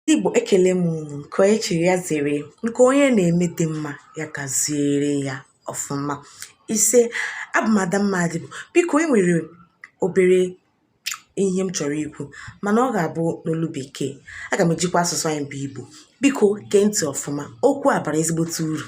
Ndị Igbo ekele m unu nke onye chiri ya zere nke onye na-eme dị mma ya gaziere ya ọfụma ise abụ m Adamma Adịbụ biko e nwere obere ihe m chọrọ ikwu mana ọ ga-abụ n'olu bekee aga m ejikwa asụsụ anyị bụ Igbo biko gee ntị ọfụma okwu a bara ezigbote uru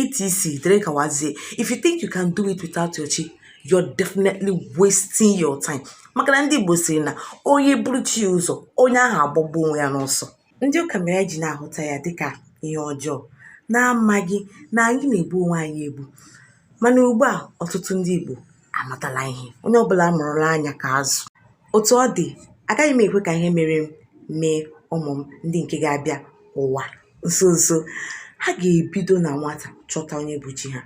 etc dịrị gawazie if you think you can do it without your chi you're definitely wasting your time maka na ndị Igbo sịrị na onye buru chi ya ụzọ onye ahụ agbagbuo onwe ya n'ọsọ ndị ụka mere anyị ji na-ahụta ya dịka ihe ọjọọ na-amaghị na anyị na-egbu onwe anyị egbu mana ugbu a ọtụtụ ndị Igbo amatala ihe onye ọbụla mụrụla anya ka azụ otu ọ dị agaghị m ekwe ka ihe mere m mee ụmụ m ndị nke ga-abịa ụwa nso nso ha ga-ebido na nwata chọta onye bụ chi ha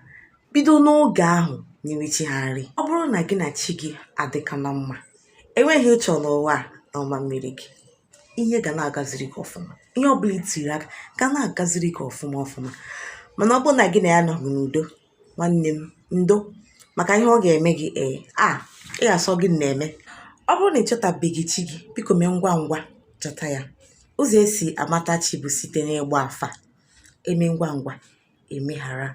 bido n'oge ahụ nyewe chi ha nri ọ bụrụ na gị na chi gị adịka na mma enweghị ihe ị chọ n'ụwa a na ọ ma-emere gị ihe ga na-agaziri gị ọfụma ihe ọbụla i tiri aka ga na-agaziri gị ọfụma ọfụma mana ọ bụrụ na gị na ya nọghị n'udo nwanne m ndo maka ihe ọ ga-eme gị ee a ị ga-asị ọ gịnị na-eme ọ bụrụ na ị chọtabeghị chi gị biko mee ngwa ngwa chọta ya ụzọ e si amata chi bụ site n'ịgba afa e mee ngwa ngwa e meghara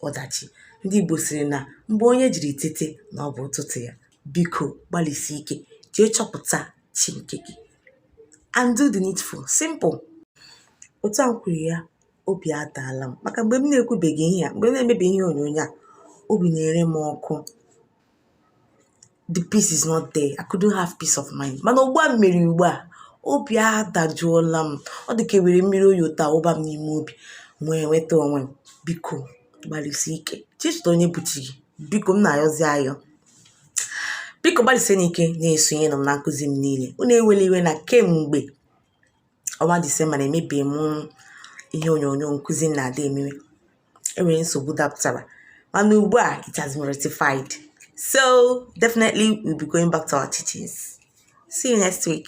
ọdachi ndị Igbo sịrị na mgbe onye jiri tete na ọ bụ ụtụtụ ya biko gbalịsie ike jee chọpụta chi nke gị and do the needful simple otu a kwuru ya obi adaala m maka mgbe m na-ekwubeghị ihe a mgbe m na-emebeghị ihe onyonyo a obi na-ere m ọkụ the peace is not there I couldn't have peace of mind mana ugbu a m mere ugbu a obi adajụọla m ọ dị ka e were mmiri oyi wụta wụba m n'ime obi m wee nweta onwe m biko gbalịsie ike jee chọta onye bụ chi gị biko m na-ayọzi ayọ biko gbalịsienụ ike na-esonyere m na nkụzi m niile unu ewela iwe na kemgbe ọnwa disemba na emebeghị m ihe onyonyo nkụzi m na-adị emewe enwere nsogbu dapụtara mana ugbu a it has been rectified so definitely we'll be going back to our teachings see you next week